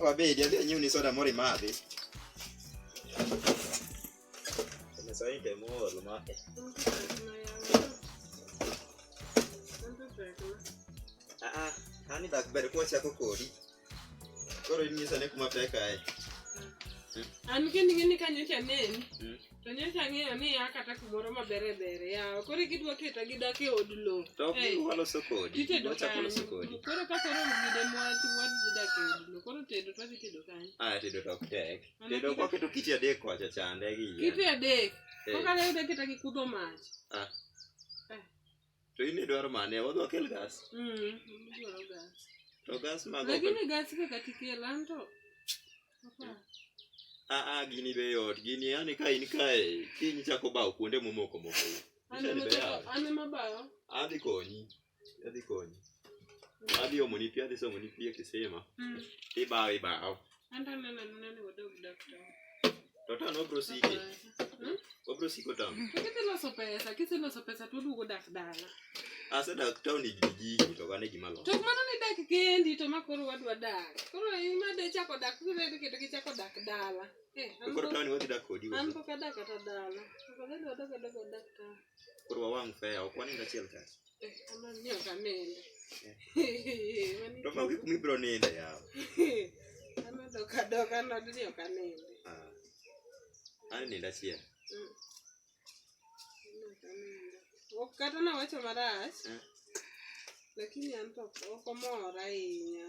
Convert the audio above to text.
Wabedi, adhi anyiewni soda moro imadhi. Mesa hii ndio moro lumake. Ah ah, hani dak ber kwa chako kodi. Koro inyisa ne kuma peka ai. An kende ngene kanyo cha neni. To nyocha ang'eyo ni ya kata kumoro maber e ber yawa. Koro gidwa keta gidak e od lowo. To ok Hey. giwa loso kodi. Titedo Giwa chako loso kanyo. kodi. Koro ka koro gine mwati wadhi dak e od lowo. Koro tedo to wadhi tedo kanyo. Ah, tedo to ok tek. Mana Tedo kite- kwaketo kiti adek kocha chande gi yien. Kite adek. Eh. Kokalo yudo keta gi kudho mach. Ah. To in idwaro mane? Wadhi wakel gas. Mm, adwaro gas. To gas mag Lakini gas kaka tikelo an to. Papa. Ah ah gini be yot. Gini yani ka in kae kiny chako bawo kuonde momoko moko. An Mishani ema be yawe. bawo- an ema bawo. Adhi konyi. Adhi konyi. Adhi omoni pi, adhi somoni pi e kisima. Mm. Ibawo ibawo. Anda nana nuna ni wadog dakta. Toto no bro sike. Hmm? Obro siko tam. Kete loso pesa, kete loso pesa tu dugo dak dala. Asa dak town ni jiji to gane gima lo. To mano ni dak kendi to makoro wadwa dak. Koro ima de chako dak tu ne kete ki chako dak dala. Eh, koro town wadi dak kodi. An poka dak ata dala. Koro dak dak dak dak. Koro wang fe, okwani ngachiel kasi. To maonge kuma ibiro ninde yawa. Amedoka doka nod ni ok aninde. Ah. An nindo achiel. Mm. Ok kata nawacho marach. Eh. Lakini an to ok omor ahinya.